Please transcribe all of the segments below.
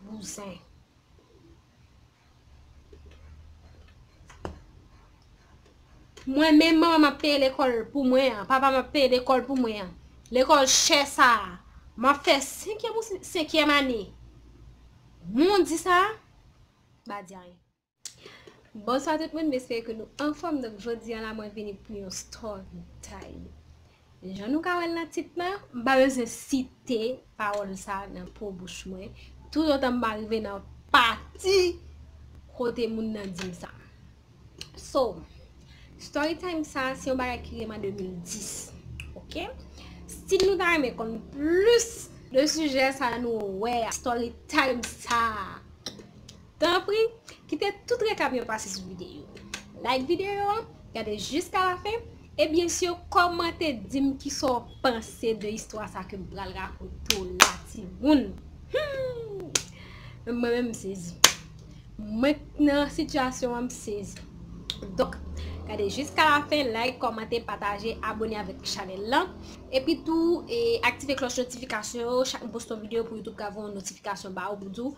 Bouzen. Mwen menm manman map peye lekòl pou mwen an. Papa map peye lekòl pou mwen an. Lekòl chè sa a. Map fè 5 yèm ou 5 yèm ane. Moun di sa a. Ba di a yon. Bonswa tout moun m espere ke nou anfòm donk jodi an la mwen vini pou yon story time jan nou ka wèl nan tit lan m pa bezwen site pawòl sa nan po bouch mwen tout otan m pa rive nan pati kote moun nan di m sa so story time sa se yon bagay ki rive m an 2010 ok si nou ta renmen konn plis de sijè sa nou wè a story time sa. Tanpri, kite tout rekap yo pase sou videyo a. Like videyo a, gade jiska lafen, e byen sur kòmante dim kisa w panse de istwa sa kem pral rakonte w la timoun. Humm! Mwen menm m sezi. Mwen k nan sitiyasyon an m sezi. Donk, gade jiska lafen, like, kòmante, pataje, abone avèk chanèl la. Epi tou, aktive klòch notifikasyon yo, chak m poste yon videyo pou YouTube ka voye yon notifikasyon ba ou pou di w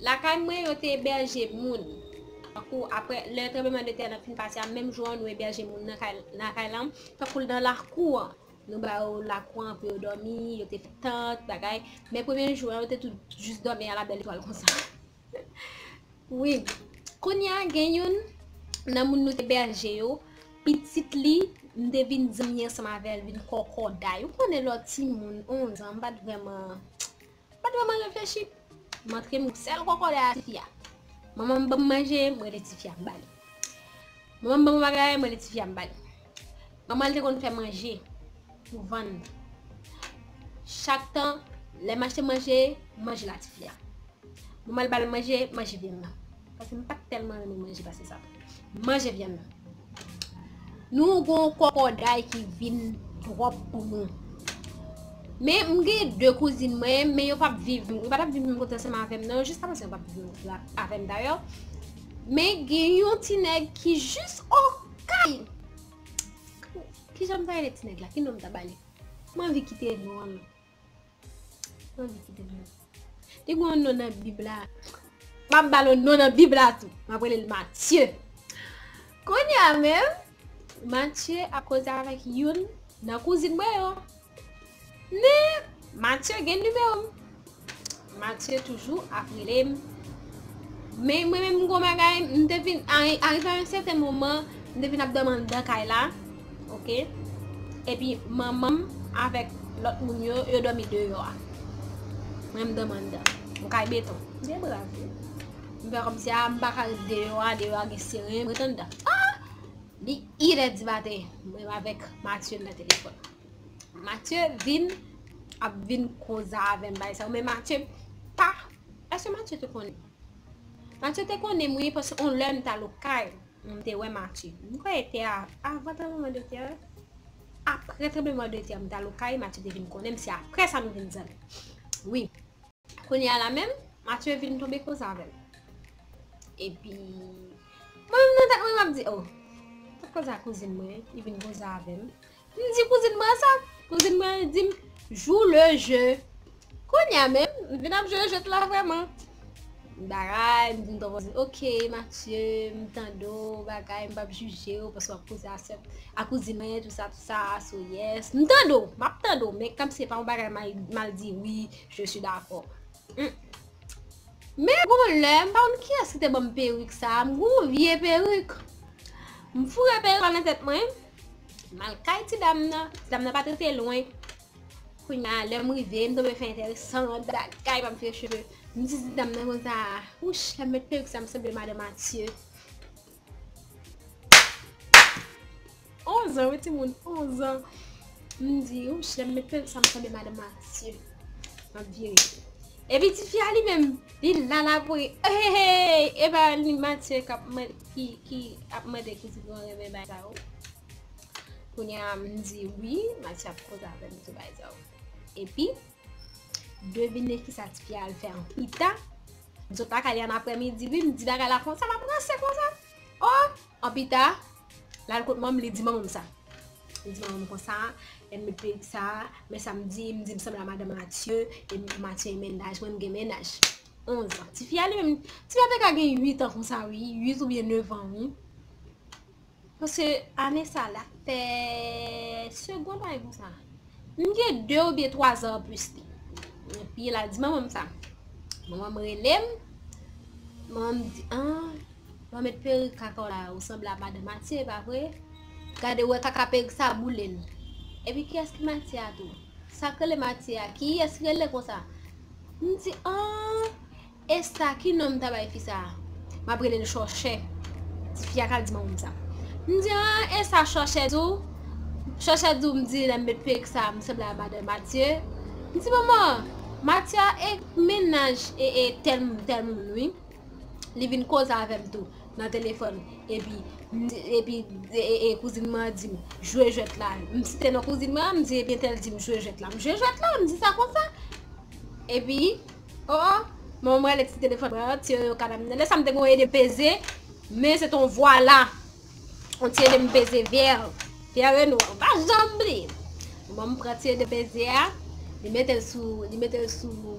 Lakay mwen yo te ebèje moun. Tankou apre lè tranbleman de tè nan fin pase a, menm jou an nou ebèje moun nan kay nan kay lan, tankou nan lakou an. Nou ba yo lakou an pou yo dòmi, yo te fè tant bagay. Men premye jou an yo te tout jis dòmi a la bèl etwal konsa. Wi, kounye a gen youn nan moun nou te ebèje yo, pitit li m te vin zanmi ansanm avè l, vin kòkòday. Ou konnen lò timoun, onz an, m pa t vrèman. M pat vreman reflechi, m antre m sèl kòkòday a tifi a. Manman m ban m manje, m rele tifi a m ba li. Manman m ban m yon bagay, m rele tifi a m ba li. Manman l te konn fè manje pou vann. Chak tan, lè m achte manje, manje la tifi a. Manman l ba l manje, manje vin nan. Paske m pat tèlman renmen manje pase sa. Manje vyann nan. Nou gon kòkòday ki vin twòp pou nou. Men m gen 2 kouzin mwen, men yo pap viv, yo pa tap viv menm kote ansanm avèm nan, jiska prezan yo pap viv menm kote la avèm dayò. Men gen yon ti nèg ki jis okay. Kijan m ta rele ti nèg la? Ki non m ta ba li? M anvi kite non an. Te gwen yon non nan bib la. Map balo non nan bib la tou. Map wèl el Matye. Kounye a men. Matye ap koze avèk yon nan kouzin mwen yo. Men. Matye gen nimewo m. Mathieu toujou ap relem men mwen menm gon bagay m te vin arive a yon sèten moman m te vin ap dòmi anndan kay la ok epi manmanm avèk lòt moun yo yo dòmi deyò a mwen m dòmi anndan yon kay beton m gen bra tou m fè kòmsi a m pa ka ret deyò a deyò a gen seren m ret anndan li 1 è di maten mwen avèk Mathieu nan telefòn. Mathieu vin ap vin koza avèm bay sa men Mathieu pa eske Mathieu te konnen Mathieu te konnen mwen paske on lè m ta lo kay m te wè Mathieu m kwè te a avan ta mwen de tè apre te mwen de tè m ta lo kay Mathieu te vin konnen m se apre sa nou vin zanmi wi kounye a la menm Mathieu vin tonbe koza avèm epi mwen nan tèt mwen m ap di oh koza kouzin mwen li vin koza avèm. M di kouzin mwen sa, kouzin mwen an di m, jou le je. Kounye a menm, m vin ap jwe jwèt la vrèman. M bagay, m di m tonton Zin, ok Matye, m tande w, bagay, m p ap jije w paske w ap koze a sè, a kouzin mwen, tou sa, tou sa, so yes. M tande w, m ap tande w, men kòm se pa yon bagay m al di wi, je si dakò. Men gon lè, m pa konn kiyès ki te ban m perik sa a, m gen yon vye perik. M foure perik la nan tèt mwen. M al kay ti dam nan, ti dam nan pa t rete lwen. Kounya lè m rive, m tonbe fè entèresan nan bagay, m ap vire cheve. M di ti dam nan konsa, wouch, lè m met perik sa a m sanble madan Matye. Onzan wi timoun, onzan. M di, wouch, lè m met perik sa a m sanble madan Matye. M ap vire. Epi tifi a li menm li la la pou ri eheheey epa li Mathieu kap mande ki ap mande ki tifi mwen renmen bay sa yo kounye a m di wi Mathieu ap koze avèm sou bagay sa yo epi devine kisa tifi a al fè an pita m sot lakay li an aprè midi wi m di bagay la konsa lap ranse konsa. Oh! An pita, l al kot manman, li di manman m sa. Li di manman m konsa, lè m met perik sa, men sa m di, m di m sanble a madan Mathieu, e Mathieu gen mennaj, mwen m gen mennaj. Onzan. Ti fi a li menm, ti fi a te ka gen uit an konsa wi, uit oubyen nevan wi. Paske ane sa, l ap fè segond ane konsa. M gen 2 oubyen 3 zan anplis li. Epi la di manman m sa. Manman m rele m. Manman m di, an, lò met perik kaka w la, ou sanble a madan Matye, e pa vre? Gade ou wè kaka perik sa boule n. Epi kiyès ki Matye a tou? Sa k rele Matye a? Kiyès rele konsa? M di, an, Esta ki nom ta bay fi sa. Map relel chòchè. Tifi a ka di manmanm sa. M di ah esa chòchè tou. Chòchè tou m di lèm met perik sa m sanble a madan matye. M di manman matye a e mennaj e tèl moun tèl moun wi. Li vin koze avèm tou nan telefòn epi epi e kouzin mwen an dim jwe jwèt la. M site non kouzin mwen an m di ebyen tèl dim jwe jwèt la. M jwe jwèt la m di sa konsa epi. Oh oh Manman m rele ti telefòn mwen an, ti yoyo kana m nan. Lè sa m te gen yon ede peze, men se te yon vwala. Yon ti ede m peze vyè. Vyè Reno an. M pa janm bliye. Manman m pran ti ede peze a, li mete l sou, li mete l sou,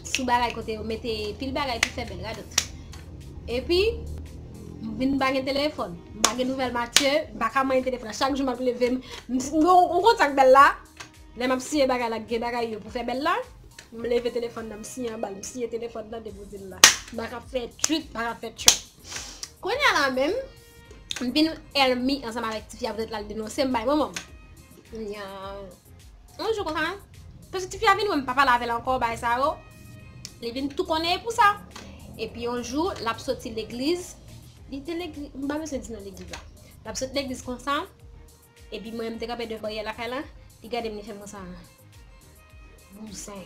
sou bagay kote yo mete pil bagay pou fè bèl, radòt. Epi, m vin m pa gen telefòn. M pa gen nouvèl Matye, m pa ka manyen telefòn. Chak jou m ap leve m, m si, m gen yon kontak bèl la, lè m ap siye bagay la, gen bagay yo pou fè bèl la. M leve telefòn nan m siye anbal, m siye telefòn nan depi w di l la. Bak ap fè tchwiip, bak ap fè tchwip. Kounya la menm, m vin èlmi ansanm avèk tifi a poutèt l al denonse m bay manman m. Kounya, yon jou konsa, paske tifi a vin wè m pa pale avè l ankò bagay sa yo, li vin tou konnèye pou sa. Epi yon jou, l ap soti legliz, li te legliz, m pa bezwen di non legliz la. L ap soti legliz konsa. Epi mwen m te kanpe devan baryè lakay la, li gade m li fè m konsa. Bouzen.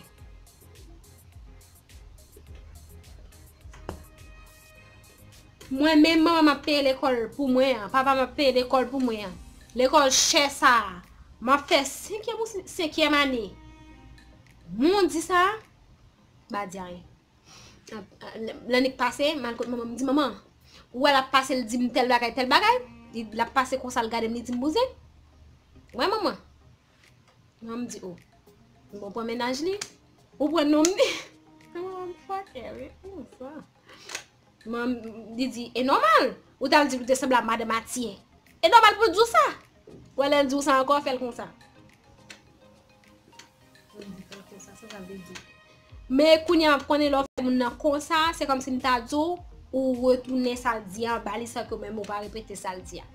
Mwen menm manman m ap peye lekòl pou mwen an, papa m ap peye lekòl pou mwen an. Lekòl chè sa a. M ap fè senkyèm ane. Moun di sa a, m pa di anyen. Lannik pase, mal kote manman, mdi manman, ou wè lap pase l di m tel bagay, tel bagay, lap pase konsa l gade m li di m bouzen, wè manman, manman m di o, m bon pran mennaj li, ou pran nonm li, manman m fòkè wi, m sa. Mom, li di, e nòmal. Ou tal di ou te sanble a madan Matye. E nòmal pou di w sa. Wè lè l di w sa ankò, fè l konsa. Mom di, fè l konsa, sa sa vle di. Men kounya ou konnen lè w fè moun nan konsa, se kòm si m ta di w, ou retounen sa l di a anba li san ke ou menm ou pa repete sa l di a.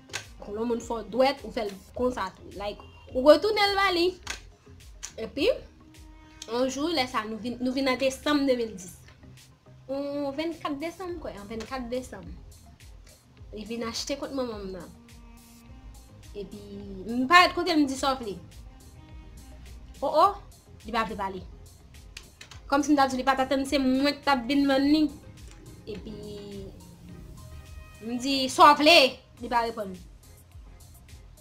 Lè yon moun fè w dwèt, ou fè l konsa tou. Like, ou retounen l ba li. Epi, yon jou lè sa, nou vin nan desanm 2010. On 24 desanm m kwè, an 24 desanm, li vin achte kont manman m nan. Epi, m parèt kote l m di sa w vle. O o, li pa vle pale. Kòm si m ta di w li pa t atann se mwen k t ap vin vann li. Epi, m di sa w vle, li pa reponn.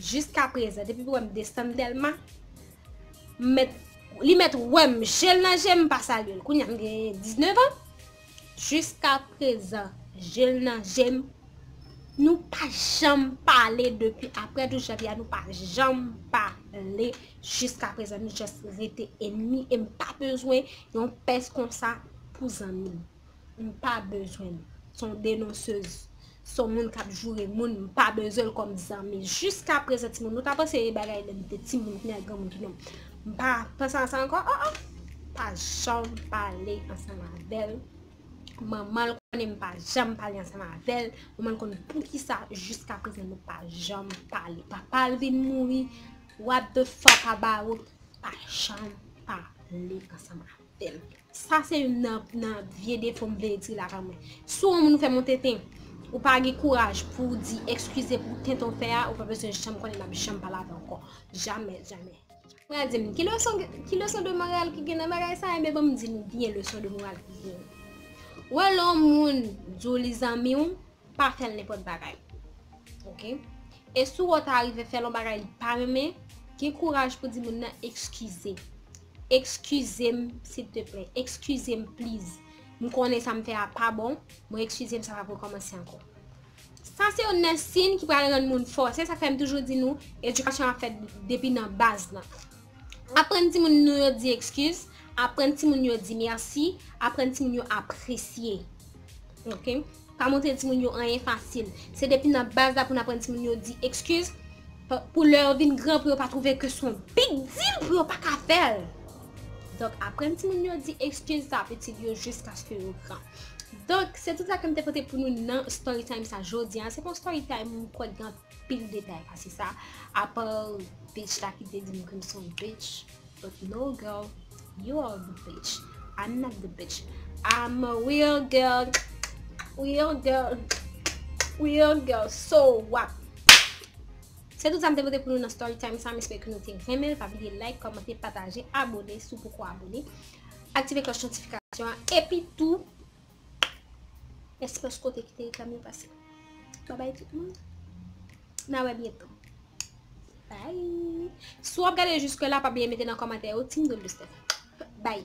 Jiska prezan depi pou wèm desann telman met li met wèm jel nan jem pa salyel kounya m gen 19 an jiska prezan jel nan jem nou pa janm pale depi aprè 12 janvye a nou pa janm pale jiska prezan nou just rete enmi em pa bezwen yon pès konsa pou zanmim. m pa bezwen l s on denonsez s on moun kap joure moun m pa bezwen l kòm zanmi jiska prezan timoun nou ta panse e bagay lè m te timoun kounya granmoun tout non m pa panse a sa ankò o o m pa janm pale ansanm avè l manman l konnen m pa janm pale ansanm avè l manman l konnen poukisa jiska prezan nou pa janm pale papa l vin mouri what the fuck about pa janm pale ansanm avè l fèl sa se youn nan vye defo m vle di la pa mwen si yon moun fè moun tenten ou pa gen kouraj pou w di ekskize pou tenten w fè a ou pa bezwen janm konnen map janm pale avè w ankò jamè jamè pral di m ki leson ki leson de moral ki gen nan bagay sa enben banm di nou byen leson de moral ki gen w wè lè yon moun di w li zanmi w pa fè l nenpòt bagay ok e si w ta rive fè l yon bagay li pa renmen gen kouraj pou di moun nan ekskize Ekskizem silteplè, ekskizem please. M konnen sa m fè a pa bon, mwen ekskizem sa pap rekòmanse ankò. Sa se youn nan siyn ki pral rann moun fò. Se sa k fè m toujou di nou, edikasyon ap fèt depi nan baz nan. Aprann timoun nou yo di ekskiz, aprann timoun yo di mèsi, aprann timoun yo apresye. Ok Pa montre timoun yo anyen fasil Se depi nan baz la pou n aprann timoun yo di ekskiz Pou lè yo vin gran pou yo pa twouve ke son big deal pou yo pa ka fè l Donk aprann timoun yo di ekskiz sa ap itil yo jiskaske yo gran Donk se tout sa ke m te pote pou nou nan Storytime sa jodi a Se pa yon Storytime m kwè k gen anpil detay pase sa Apa bitch la ki te di m ke m se yon bitch But no girl you are the bitch I'm not the bitch I'm a real girl Real girl Real girl So wap Se tout sa m te pote pou nou nan story time sa m espere ke nou te renmen l pa bliye like, kòmante, pataje, abone si w poko abone aktive klòch notifikasyon an epi tou Espres kote ki te reklam yo pase. Bye bye tout moun. Na we byen tan. Bye. Si w ap gade jiske la pa bliye mete nan komantè yo team Don Buster. Bye.